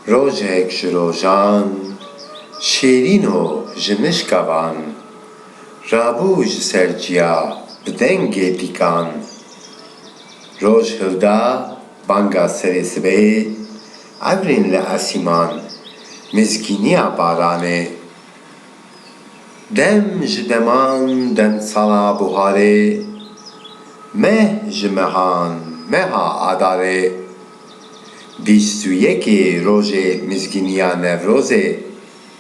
Rojek ji rojan şêrîno ji mişka van Rabû ji ser ciya bi dengê dîkan Roj hilda Banga serê sibehê, evrên li esîman, mêzkîniya baranê. Dem ji deman, demsala buharê, meh ji mehan, meha adarê. Bîst û yekê rojê mizgîniya Newrozê.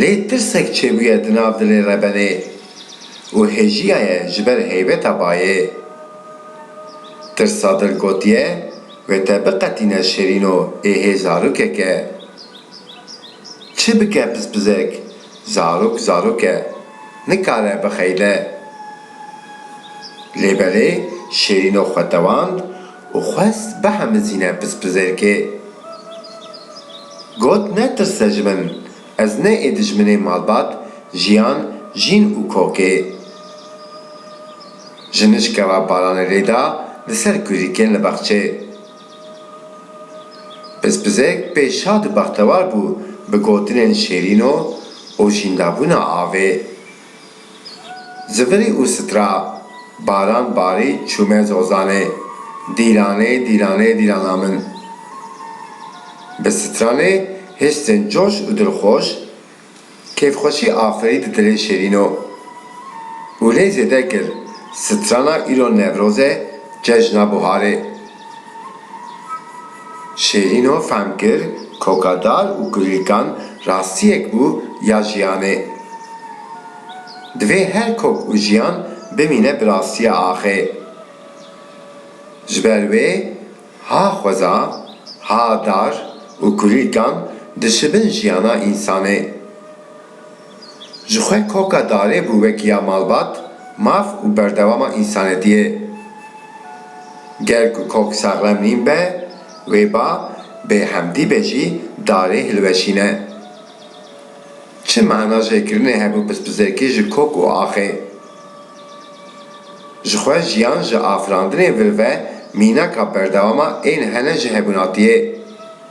Lê tirsek çêbûye di nav dilê rebenê û hêjiyaye ji ber heybeta bayê. Tirsa dil gotiye wê te biqetîne şêrîno ê hê zarokek e. Çi bike pispizek, zarok zarok e, nikare bixeyle. Lê belê şêrîno xwe tewand û xwest bihemizîne pispizêrkê. Got, Netirse ji min, ez ne ê dijminê malbat, jiyan, jîn û kokê. Ji nişke re baranê lê da li ser kurikên li bexçê. Pispizek pê şad û bextewar bû bi gotinên şêrîno û jîndabûna avê Zivirî û sitra baran barî çûme zozanê dîranê dîranê dîrana min. Bi sitranê hiştên coş û dilxoş kêfxweşî aferî di dilê şêrîno. Û lê zêde kir sitrana îro Newroz e cejna buharê. Şêrîno fehm kir koka dar û kurlîkan rastiyek bû ya jiyanê. Divê her kok û jiyan bimîne bi rastiya axê. Ji ber wê ha xweza, ha dar û kurlîkan dişibin jiyana însanê. Ji xwe koka darê bû wek ya malbat, maf û berdewama însanetiyê. Ger ku kok saxlem nîn be, wê ba bêhemdî be jî darê hilweşîne. Çi mana jê kirinê hebû pispizêkî ji kok û axê? Ji xwe jiyan ji afirandinê vir ve mînaka berdewama ên hene ji hebûnatiyê.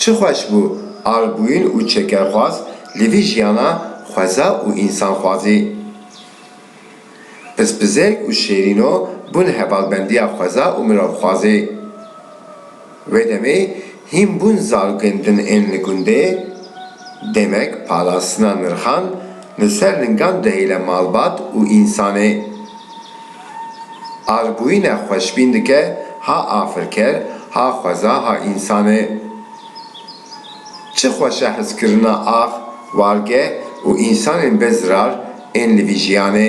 Çi xweş bû albûyîn û çekerxwaz li vî jiyana xweza û însanxwazî. Pispizêk û Şêrîno bûn hevalbendiya xweza û mirovxwazî. Wê demê hîn bûn zarokên din ên li gundê, demek parastina nirxan li ser lingan dihêle malbat û însanê. Arbûyîne xweşbîn dike ha afirker, ha xweza, ha însanê. Çi xweş e hizkirina ax, warge û însanên bê zirar ên li vî jiyanê.